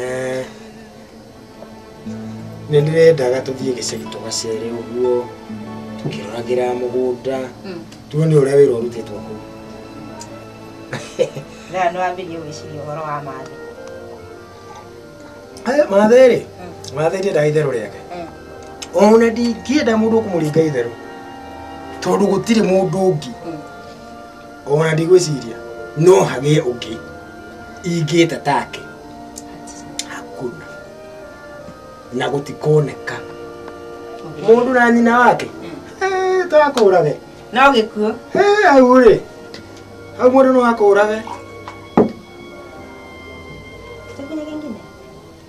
Eh, nĩ ndĩrendaga tũthiĩ gĩcagi tũgacere ũguo tũkĩroragĩra mũgũnda hmm. tuone ũrĩa wĩra ũrutĩtwo kũu Ngaa no ambĩrie gwĩciria ũhoro wa mathe. Aya mathe rĩ, mm. mathe ndiendaga itherũ rĩake. Mm. Ona ndingĩenda mũndũ kũmũringa itherũ tondũ gũtirĩ mũndũ ũngĩ mm. ona ndigwĩciria no hagĩe ũngĩ ingĩta take hakuna na gũtikoneka mũndũ na nyina wake Eh, twakũrage no gĩkuo Eh, hau rĩ hau mũndũ no akũrage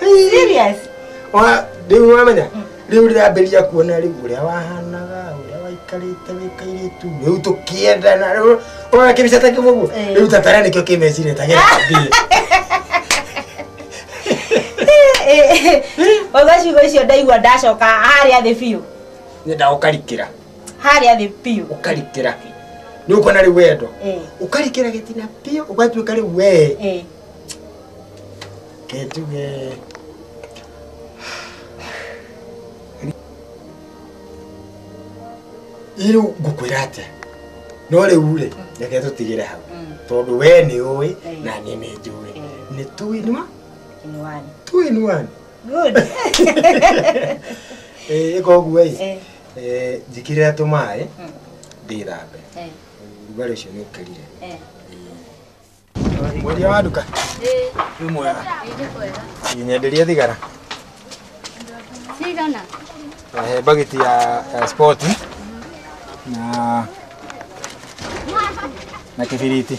Serious? Ona rĩu wamenya rĩu ndĩrambĩrĩria kuona rĩu ũrĩa wahanaga ũrĩa waikarĩte wĩkairĩtu rĩu tũkĩendana rĩu ona kĩbica ta kĩu ũguo Eh. rĩu tatara nĩkĩo kĩmeciria tagĩrathiĩ Ũgacigo icio ndaigua ndacoka harĩa thĩ biũ. nyenda ũkarikĩra Harĩa thĩ biũ. ũkarikĩra nĩ ũkuona rĩu wendo Eh. ũkarikĩra gĩtina biũ ũgatuĩka rĩu wee Eh. ketuge rĩu ngũkwĩra atĩa no rĩu rĩ reke tũtigĩre hau tondũ we nĩ ũĩ na niĩ nĩ njũĩ nĩ tuinwa tuinwani koguo ĩ njĩkĩrĩra tũmaĩ ndĩthambe rugarĩ ũcio nĩ ũkĩrire Mwendia wa nduka. Wĩ mwega. Nyenderie thigara. Cigana? Eh, bagiti ya, ya sport na na kibiriti.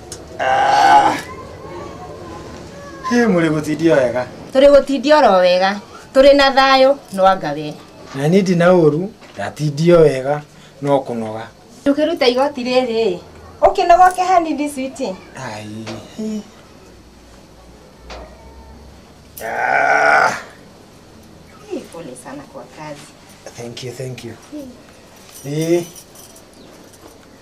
Ah. Hĩ mũrĩ gũtindio wega tũrĩ gũtindio oro wega tũrĩ na thayũ nwanga we na niĩ ndina ũru ndatindio wega no kũnoga tũkĩruta igoti rĩrĩ ũkĩnogoke hanini switi Ai. Ah. pole sana kwa kazi Thank you, thank you. Eh,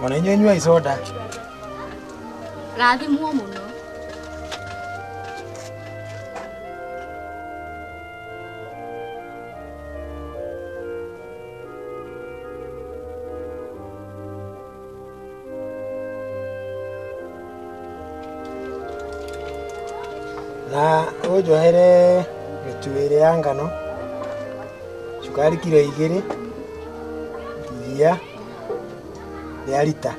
Mwana inyuĩ inyuai soda. Rathimwo mũno. na ũnjohere mĩtu ĩrĩ ya ngano cukari kiro igĩrĩ iria rĩa rita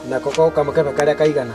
na koko kamũkebe karĩa kaigana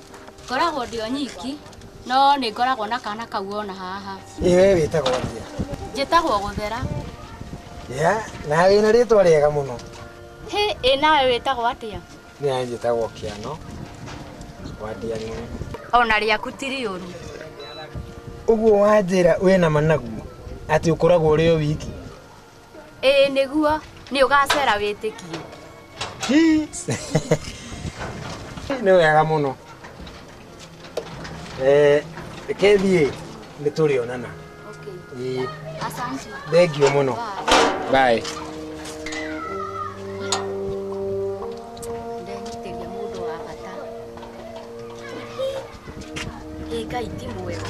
Ngoragwo ndĩ o nyiki, no nĩ ngoragwo na kana kau ona haha. Ĩ we wĩtagwo atĩa? Njĩtagwo Gũthera. Ya, na wĩna rĩtwa rĩega mũno. Hĩ, ĩ nawe wĩtagwo atĩa? Niĩ njĩtagwo Kĩano wa Ndiang'ũ. Ona rĩaku ti rĩũru. Ũguo wanjĩra wĩna managu atĩ ũkoragwo ũrĩ o wiki? ĩĩ nĩguo nĩ ũgacera wĩtĩkie nä wega må no kethiä nä tå rä onana okay. asante thengio må no Bye. ndenyitĩria mũndũ wa bata ĩ ngai ti mwega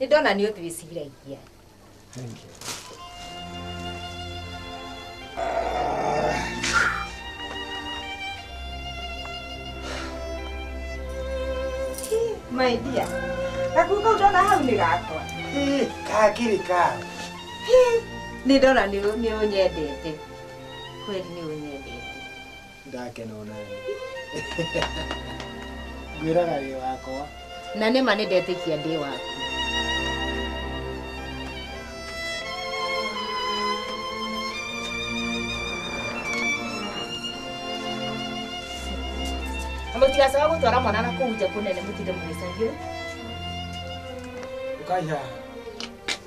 nĩ ndona nĩ ũtwĩciragia my dear gakuo kau ndona hau nĩ gakwa kakĩrĩ ka nĩ ndona nĩ ũnyendete kweli nĩ ũnyendete ndakena onani ngwĩraga wĩ wakwa na nĩ ma nĩ ndetĩkia ndĩ waku Na mũtigacoka gũtwara mwana na kũu nja kũnene mũtinde mũgĩcagio ũkai haha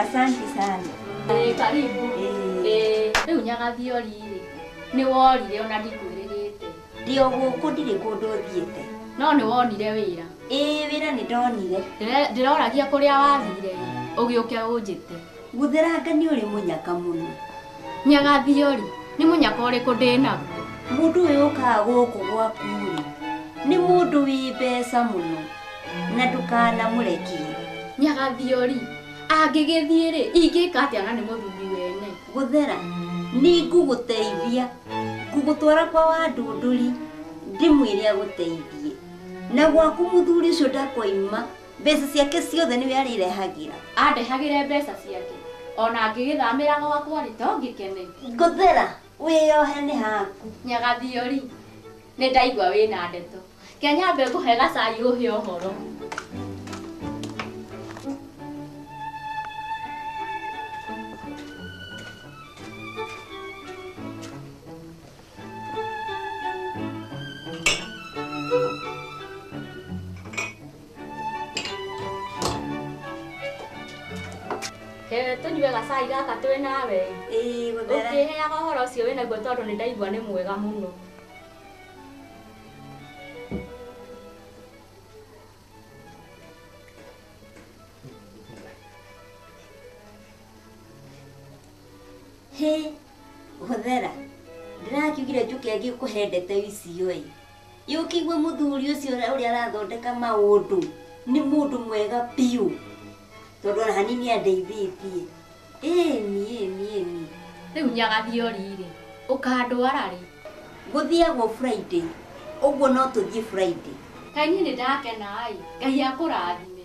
Asante sana. Ĩĩ, karibu. Ĩĩ. Ĩĩ, rĩu nyagathiori rĩ nĩ worire ona ndikwĩrĩgĩte Ndĩ o gũkũ ndirĩ kũndũ thiĩte. no nĩ wonire wĩra Ĩĩ wĩra nĩ ndonire. Ndĩre- ndĩroragia kũrĩa wathire ũgĩũke ũnjĩte Gũthera ngani ũrĩ mũnyaka mũno. Nyagathio-rĩ, nĩ mũnyaka ũrĩkũ ndĩ naguo? Mũndũ ũyũ ũkaga gũkũ gwaku-rĩ, nĩ mũndũ wĩ mbeca mũno, na ndũkanamũrekie. Nyagathio-rĩ, angĩgĩthiĩ-rĩ, ingĩka atĩa na nĩ mũthuri wene? Gũthera, nĩngũgũteithia, ngũgũtwara kwa Wandũndũri, ndĩmwĩre agũteithie, na gwaku mũthuri ũcio ndakoima. Mbeca ciake ciothe nĩwe arĩrehagĩra. Andehagĩre mbeca ciake. O na ngĩgĩthamĩra gwakwa-rĩ, to ngĩkene. Ngũthera, wĩyohe nĩ haku. Nyagathio-rĩ, nĩndaigua wĩ na ndeto. Ke nyambe ngũhe gacai ũhe ũhoro. He, tũnyue gacai gaka twĩ nawe Ĩĩ, gũthera. ũngĩheaga ũhoro ũcio wĩ naguo tondũ nĩ ndaigua nĩ mwega mũno Hĩ, Hũthĩra, ndĩrakiugire njũke ngĩkũhe ndeto icio ĩ. Yũkĩigue mũthuri ũcio ũrĩa arathondeka maũndũ nĩ mũndũ mwega biũ. Tondũ ona hanini nĩ andeithĩtie. Ĩni, ĩni, ĩni. Rĩu nyagathiĩ ũri rĩ, ũkandwara rĩ? Gũthiagwo Friday. Ũguo no tũthiĩ Friday. Ngai niĩ nĩ ndakena ĩ. Ngai akũrathime.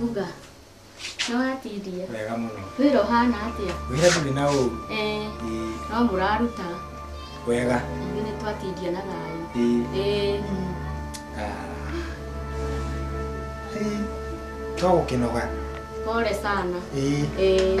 Uga. Nĩ watiria. Wega mũno. Wĩra ũhana atĩa? Wĩra ndũrĩ na ũru. Eh, Ĩĩ, no mũraruta. Wega. Ithuĩ nĩ twatiria na thayũ. Ĩĩ. Eh, Ah. Ĩĩ, To gũkĩnoga. pole sana. Ĩĩ. Eh.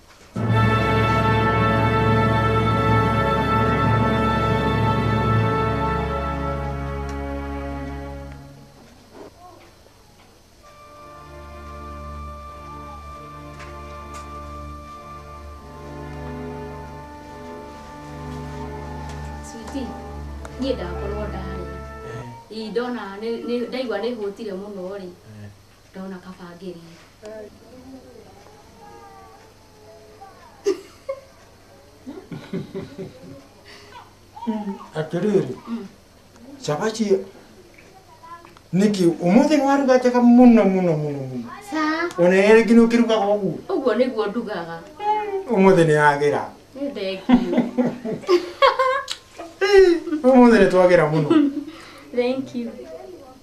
niĩ ndakorwo ndarĩa ii ndona ndaigua nĩ hũtire mũno rĩ Ndona kabangĩri. atĩrĩrĩ cabaci nĩkĩ ũmũthĩ nĩwaruga njega mũno mũno mũno mũno Sa, ona ĩrĩa rĩngĩ nĩũkĩrugaga ũguo ũguo nĩguo ndugaga. ũmũthĩ nĩyagĩra Nĩ thengio. ũmũthĩ nĩtwagĩra mũno Thank you.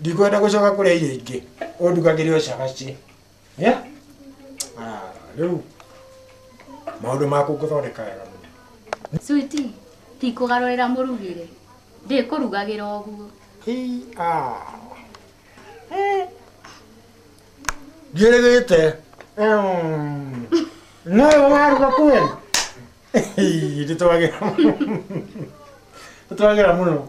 ndikwenda gucoka kuria irio ingi undugagire o cabaci Yeah? Ah, riu maundu maku nguthondeka wega muno Switi, ti kũgarũrĩra mũrugĩre. Ndĩkũrugagĩra ũguo. Hii, ah. Eh. Ndiĩrĩgĩte. Mm. No yo waruga kweli? Hii, Nditwagĩra mũno. Nditwagĩra mũno.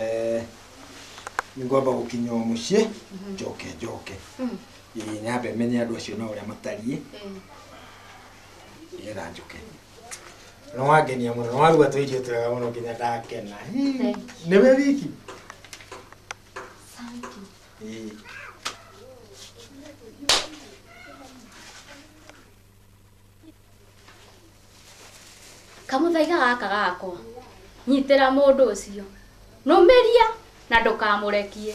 Eh, nĩ ngwamba gũkinya o mũciĩ njoke njoke Ĩĩ, nyambe menye andũ acio na ũrĩa matariĩ nĩgetha njoke no wangenia mũno no waruga tũ irio twega mũno nginya ndakena Ĩĩ, nĩ we wiki Ĩĩ. kamũthaiga gaka gakwa nyitĩra mũndũ ũcio nũmĩria na ndũkamũrekie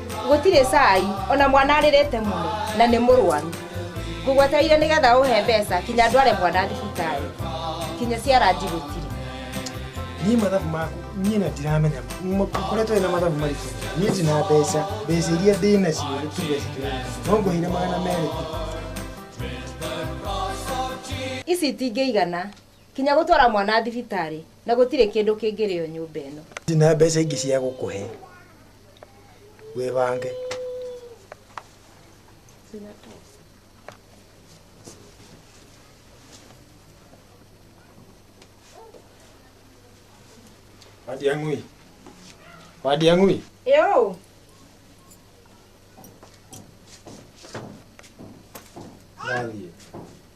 gũtirĩ cai ona mwana arĩrĩte mũno na nĩ mũrwaru ngũgwetereire nĩ getha ũhe mbeca kinya ndware mwana thibitarĩ kinya ciaranji gũtirĩ niĩ mathabu maku niĩ na ndiramenya koretwo na mathabu maritũ niĩ ndĩ na mbeca mbeca iria ndĩ nacio nĩ tuge no ngũheire magana merĩ tu ici itingĩigana Kinya gũtwara mwana thibitarĩ na gũtirĩ kĩndũ kĩngĩrĩo nyũmba ĩno. Ndina mbeca ingĩ cia gũkũhe wĩbange. Wadiang'ui. Wadiang'ui. Ĩũ. Nathiĩ.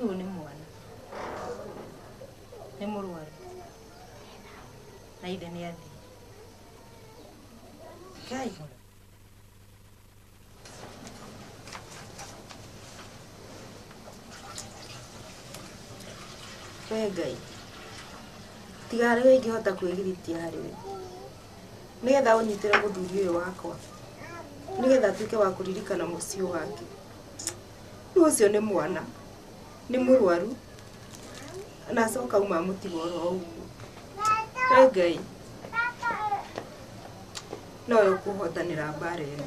Uyu ni mwana. Ni mũrwaru. Na ithe nĩ athiĩ. Kai. We Ngai. Tiga harĩ we ingĩhota kwĩgiritia harĩ we. nĩ getha ũnyitĩre mũthuri ũyũ wakwa nĩ getha atuĩke wa kũririkana mũciĩ wake rĩu ũcio nĩ mwana nĩ mũrwaru na acoka uma mũtiga oro ũguo Wee ngai nowe ũkũhotanĩra mbara ĩno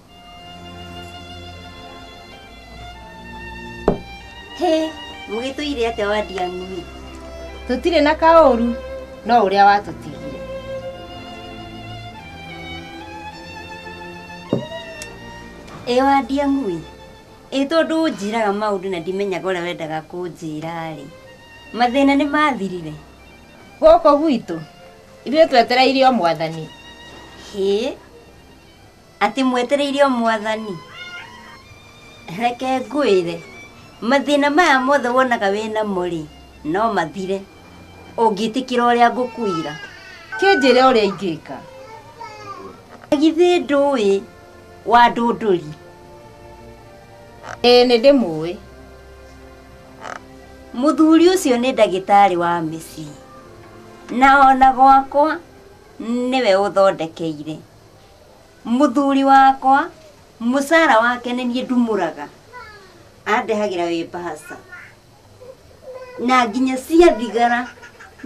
Hĩ, mũgĩtũire atĩa wa Ndiang'ui? Tũtirĩ na kaũru, no ũrĩa watũtigire. Ĩ wa Ndiang'ui, ĩ tondũ ũnjĩraga maũndũ na ndimenyaga ũrĩa wendaga kũnjĩra-rĩ, mathĩna nĩ mathirire? Gũkũ gwitũ, ithuĩ twetereire o mwathani. Hĩ, Atĩ mwetereire o mwathani. Reke ngwĩre, mathĩna maya mothe wonaga wĩ namo rĩ, no mathire ũngĩtĩkĩra ũrĩa ngũkwĩra. Kĩnjĩre ũrĩa ingĩka. Na githĩ ndũĩ wa ndũndũri? Ĩĩ nĩndĩmũĩ. Mũthuri ũcio nĩ ndagĩtarĩ wa mĩciĩ, na ona gwakwa nĩwe ũthondekeire. Mũthuri wakwa mũcara wake nĩ niĩ ndumũraga, andehagĩra wĩ mbahaca, na nginya ciathigara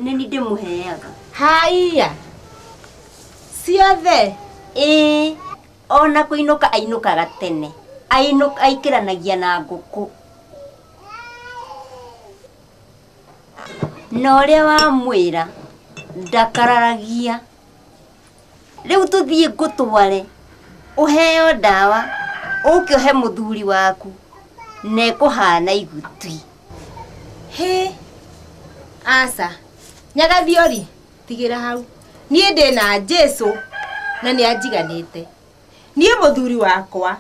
nĩ niĩ ndĩmũheaga. Haiya! Ciothe? Ĩĩ, o na kũinũka ainũkaga tene, aikĩranagia na ngũkũ. Na ũrĩa wamwĩra ndakararagia. Rĩu tũthiĩ ngũtware ũheo ndawa ũke ũhe mũthuri waku na ĩkũhana igutwi. Hĩ! Aca. Nyagathiori, tigĩra hau. Niĩ ndĩ na Jesu na nĩ anjiganĩte. Niĩ mũthuri wakwa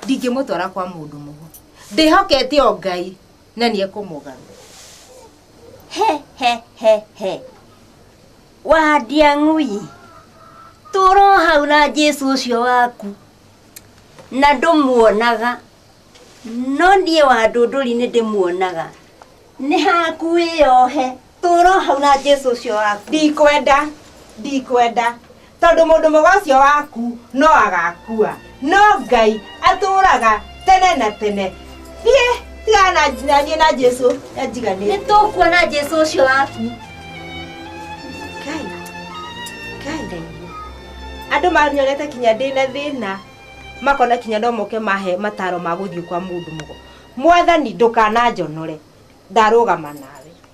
ndingĩmũtwara kwa mũndũ mũgo. Ndĩhokete o Ngai na nĩ ekũmũgarũra. He he he he! Wa Ndiang'ui, tũũra o hau na Jesu ũcio waku, na ndũmuonaga, no niĩ wa Ndũndũri nĩ ndĩmuonaga. Nĩ haku wĩyohe, tũũra o hau na Jesu ũcio waku. ndikwenda ndikwenda tondũ mũndũ mũga ũcio waku no agakua no ngai atũraga tene na tene thiĩ tigana na niĩ na jesu anjiganĩte nĩ tũkuona jesu ũcio waku andå manyonete kinya ndä na thä na makona kinya no moke mahe mataro ma gå thiä kwa må ndå må mwathani ndå kananjonore ndarå gama nawe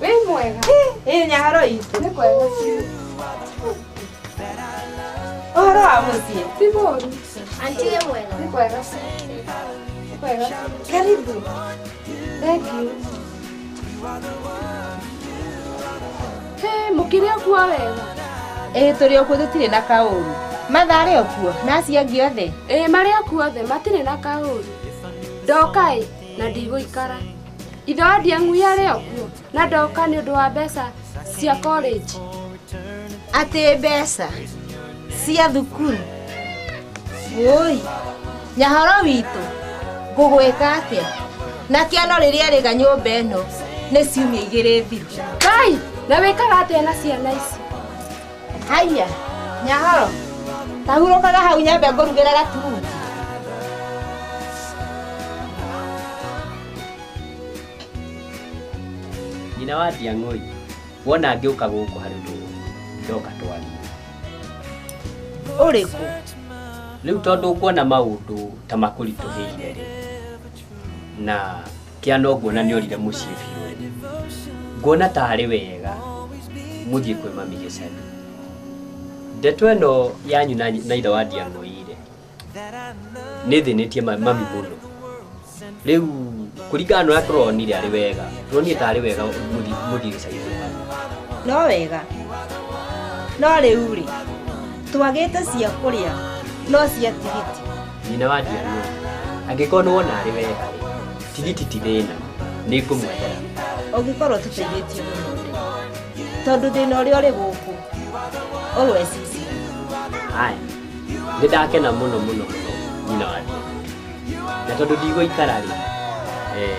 Wĩ mwega. Ĩ nyaro itũ. Nĩ kwega biũ. Ũhoro wa mũciĩ. Ti mũru. Anti wĩ mwega. Nĩ kwega biũ. Nĩ kwega biũ. Karibu. Thank you. Hey, mũkĩrĩ okuo wega. Ĩ tũrĩ okuo tũtirĩ na kaũru. Matha arĩ okuo na acio angĩ othe. Ĩ marĩ okuo othe matirĩ na kaũru. Ndoka ĩ na ndigũikara. ithe wa ndiang'u yarĩ okuo na ndoka nĩ ũndũ wa mbeca cia college atĩ mbeca cia thukuru woi nyahoro witũ ngũgwĩka atĩa na kĩono rĩrĩa rĩga nyũmba ĩno nĩ ciumia igĩrĩ thiru ngai na wĩkaga atĩa na ciana ici Haiya, Nyahoro, ta hurũkaga hau nyambe ngũrugĩre gaturungi. nyina wa ndiang'oi wona ngĩũka gũkũ harĩ ũndũ ũyũ, ndoka twarie Ũrĩkũ? rĩu tondũ nguona maũndũ ta makũritũhĩire rĩ na kia no nguona nĩ orire mũciĩ biũ ene nguona ta arĩ wega mũthiĩ kwĩ mami gĩcagi ndeto ĩno yanyu na na ithe wa ndiang'oire nĩ thĩnĩtie ma- mami mũno rĩu kũringana na ũrĩa tũronire arĩ wega turonire ta arĩ wega mũthiĩ mũthiĩ gĩcagi kwĩ mami no wega no rĩu rĩ twagĩte cia kũrĩa no cia tigiti nyina wa ndiaruo angĩkorwo nĩ wona arĩ wega tigiti ti thĩna nĩ ngũmwethera ũngĩkorwo tũteithĩtie mũno tondũ thĩna ũrĩa ũrĩ gũkũ always is haya nĩ ndakena mũno mũno mũno nyina wa ndiaruo na tondũ ndigũikara rĩ eh,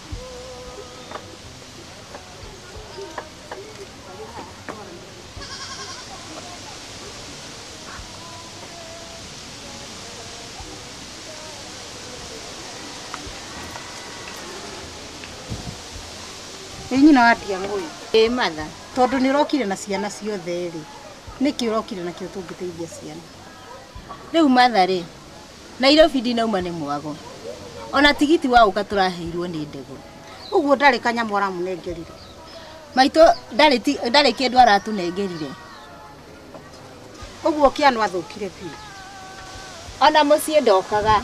Ĩĩ nyina wa Ndiang'ũ ũyũ. Ĩĩ matha. Tondũ nĩ ũrokire na ciana ciothe rĩ, nĩkĩ ũrokire nakĩo tũngĩteithia ciana? Rĩu matha rĩ, Nairobi ndinauma nĩ mwago. Ona tigiti wa ũka tũraheirwo nĩ ndegwa. Ũguo ndarĩ kanyamũ aramũnengerire. Maitũ ndarĩ ti- ndarĩ kĩndũ aratũnengerire. Ũguo Kĩanũ athũkire biũ. Ona mũciĩ ndokaga.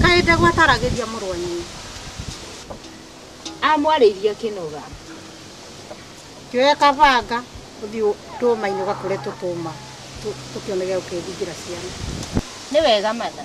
Kaĩ ndegwa ataragĩria mũrũ wa nyina. Amwarĩirie akĩnoga. Kĩoya kabanga ũthiĩ tũũma-inĩ ũgakũre tũtũũma tũkĩone gĩa gũkĩthingĩra ciana. Nĩ wega Martha.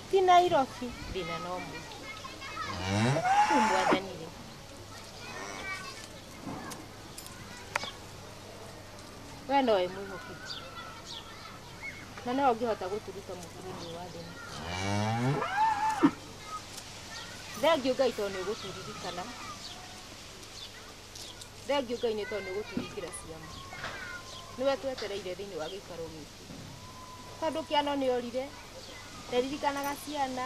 ti nairobi thĩna no mũingĩ rĩu mwathani rĩ we nowe mwĩhokeku na no ũngĩhota gũtũruta mũbĩra-inĩ wa thĩna thengiũ ngai tondũ nĩ ũgũtũririkana thengiũ ngai nĩ tondũ nĩ ũgũtũhingĩra ciama nĩwe twetereire thĩinĩ wa gĩikaro gĩkĩ Tondũ kĩano nĩ orire, ndaririkanaga ciana,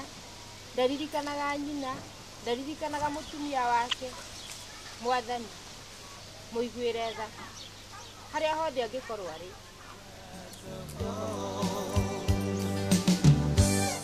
ndaririkanaga nyina, ndaririkanaga mũtumia wake, Mwathani, mũiguĩre tha, harĩa hothe angĩkorwo arĩ.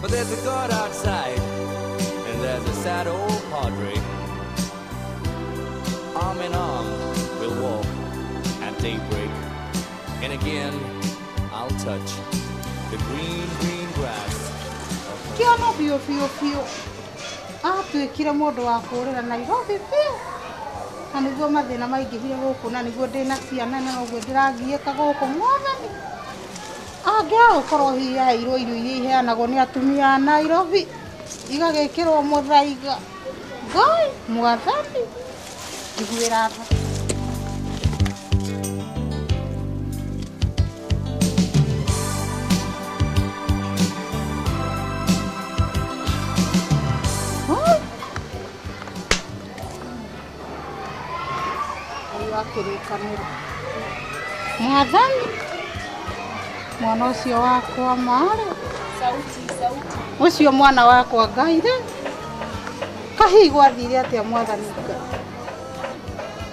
But there's a God outside, and there's a sad old padre. Arm in arm, we'll walk at daybreak. And again, I'll touch the green, green grass. kĩono biũ biũ biũ atuĩkire mũndũ wa kũũrĩra nairobi biũ na nĩguo mathĩna maingĩhire gũkũ na nĩguo ndĩna ciana na noguo ndĩrangiĩka gũkũ ng'ombe Angĩaga gũkorwo hihi yaheirwo irio iria iheanagwo nĩ atumia a Nairobi, igagĩkĩrwo mũthaiga, Ngai mwathani, njiguĩra tha. Ngai wa kĩrĩkanĩro. Mwathani, mwana ũcio wakwa marĩ, ũcio mwana wakwa Ngai rĩ, kahihi gwathire atĩa mwathani Ngai?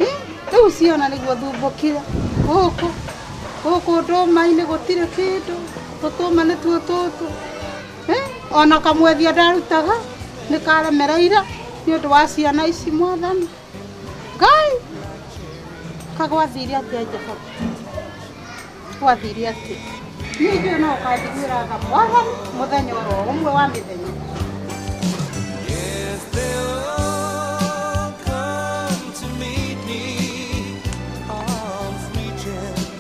Eh, Rĩu ciana nĩguo thumbũkire gũkũ gũkũ ndũma-inĩ gũtirĩ kĩndũ, tũtũma nĩtuo tũtũ ona kamwethia ndarutaga nĩ karemereire nĩ ũndũ wa ciana ici mwathani ngai kagwathire atĩa jehova gwathire atĩa niĩ njũĩ no ũkanjiguĩra tha mwathani mũthenya oro ũmwe wa mĩthenya Yes, they'll all come to meet me, arms reaching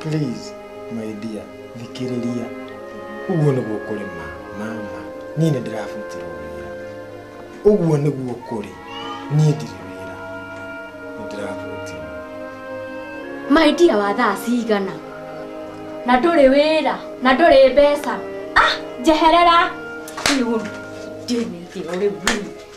Please, my dear, thikĩrĩria. Ũguo nĩguo kũrĩ ma, mama. Niĩ nĩ ndĩrabutirwo wĩra. Ũguo nĩguo kũrĩ. Niĩ ndirĩ wĩra. Nĩ ndĩrabutirwo. maidia wa thaa cigana na ndũrĩ wĩra na ndũrĩ mbeca ah njeherera rĩu ndĩmĩthio rĩu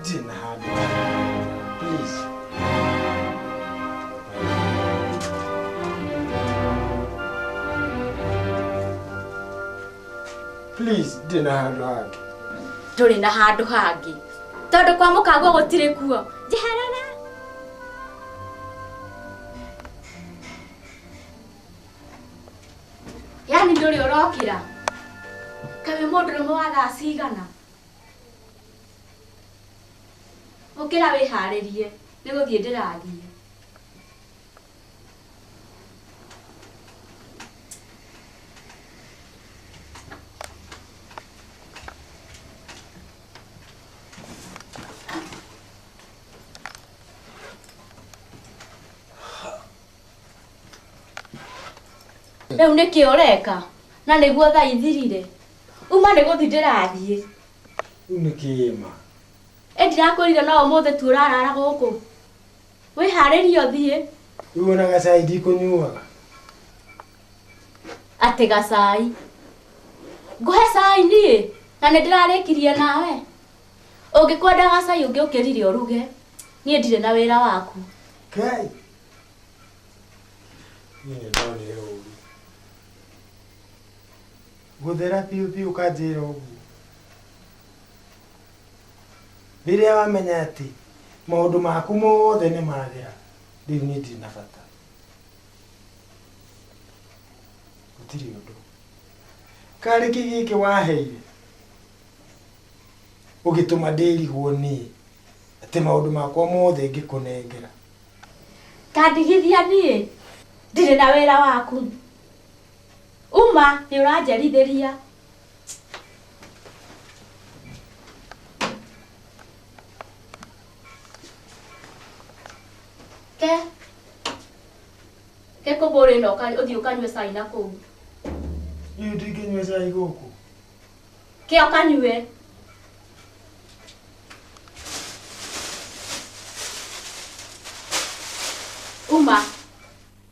ndirĩ na handũ please please ndirĩ na handũ hangĩ tũrĩ na handũ hangĩ tondũ kwa mũkaguo gũtirĩ kuo njeherera yani ndũrĩ ũrokĩra kaĩ mũndũrũme wa thaa cigana Ũkĩra wĩharĩrie nĩ gũthiĩ ndĩrathiĩ. Rĩu nĩkĩ ũreka? Na nĩguo thaa ithirire? Uma nĩ gũthiĩ ndĩrathiĩ. Rĩu nĩ kĩĩma. Ĩ ndirakwĩrire no ũmũthĩ tu ũrarara gũkũ. Wĩharĩrie ũthiĩ. Rĩu ona gacai ndikũnyuaga. Atĩ gacai. Ngũhe cai niĩ na nĩ ndĩrarĩkirie nawe. Ũngĩkwenda gacai ũngĩ ũkĩrire ũruge. Niĩ ndirĩ na wĩra waku. Kai. Niĩ nĩ ndonire ũũru. Gũthera biũ biũ ũkanjĩra ũguo? Rĩrĩa wamenya atĩ maũndũ maku mothe nĩ mathera, rĩu niĩ ndirĩ na bata. Gũtirĩ ũndũ. Karĩki gĩkĩ waheire, ũgĩtũma ndĩrigwo niĩ atĩ maũndũ makwa mothe ngĩkũnengera. Ta ndigithia niĩ ndirĩ na wĩra waku. Uma nĩ ũranjerithĩria. Ke. Ke kũbũrĩ na ũka- ũthiĩ ũkanyue cai na kũu. Niĩ ndingĩnyua cai gũkũ. Ke ũkanyue. Uma.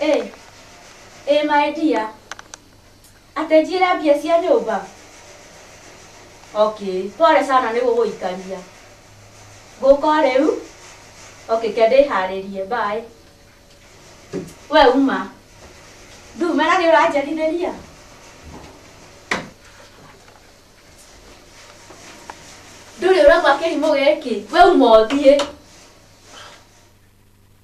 Ĩĩ, ĩĩ my dear. Atenjire mbia cia nyũmba? Okay, pole sana nĩ gũgũikaria. Ngũka o rĩu. Okay, ke ndĩharĩrie. Bye. We uma. Ndumĩra nĩ ũranjarithĩria? Ndũrĩ ũraigua kĩrimũ gĩkĩ? We uma ũthiĩ.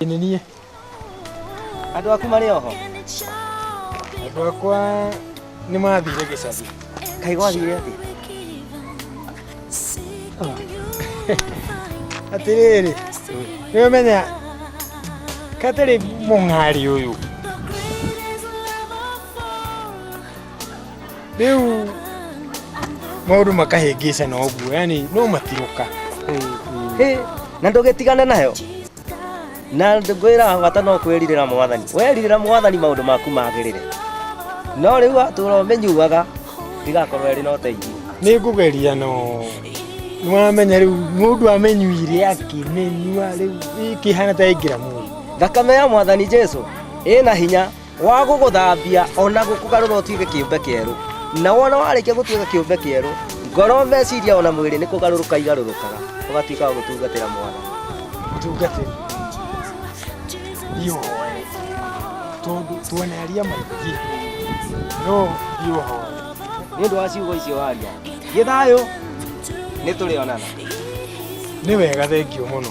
Ĩ nĩ niĩ. Andũ aku marĩ oho. Andũ akwa nĩ mathire gĩcathi. Kaĩ gwathire atĩ? Atĩrĩrĩ, nĩ ũmenya katarĩ mũng'ari ũyũ. Rĩu maũndũ makahĩngĩcana ũguo, yani no matirũka. Hĩ, na ndũgĩtigane nayo. na ngwĩra bata no kwĩrirĩra mwathani werirĩra mwathani maũndũ maku magĩrĩre no rĩu atũra ũmenyuaga ndigakorwo ĩrĩ na ũteithio nĩ ngũgeria no nĩwamenya rĩu mũndũ amenyuire akĩmenyua rĩu ĩkĩhana ta ĩngĩra mũndũ thakame ya mwathani jesu ĩna hinya wa gũgũthambia o na gũkũgarũra ũtuĩke kĩũmbe kĩerũ na wona warĩkia gũtuĩka kĩũmbe kĩerũ ngoro meciria o na mwĩrĩ nĩ kũgarũrũka igarũrũkaga ũgatuĩka wa gũtungatĩra mwana tungatĩra ndiũhoe tondũ tuoneria maingĩ no ndiũhoe nĩ ũndũ wa ciugo icio waria gĩthayũ nĩ tũrĩonana nĩ wega thengio mũno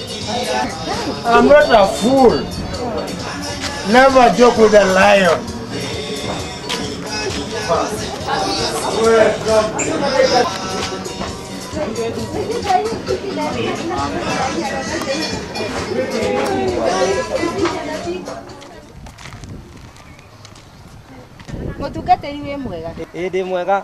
I'm not a fool. Never joke with a lion. Mũtungatĩri wĩ mwega. Ĩndĩ mwega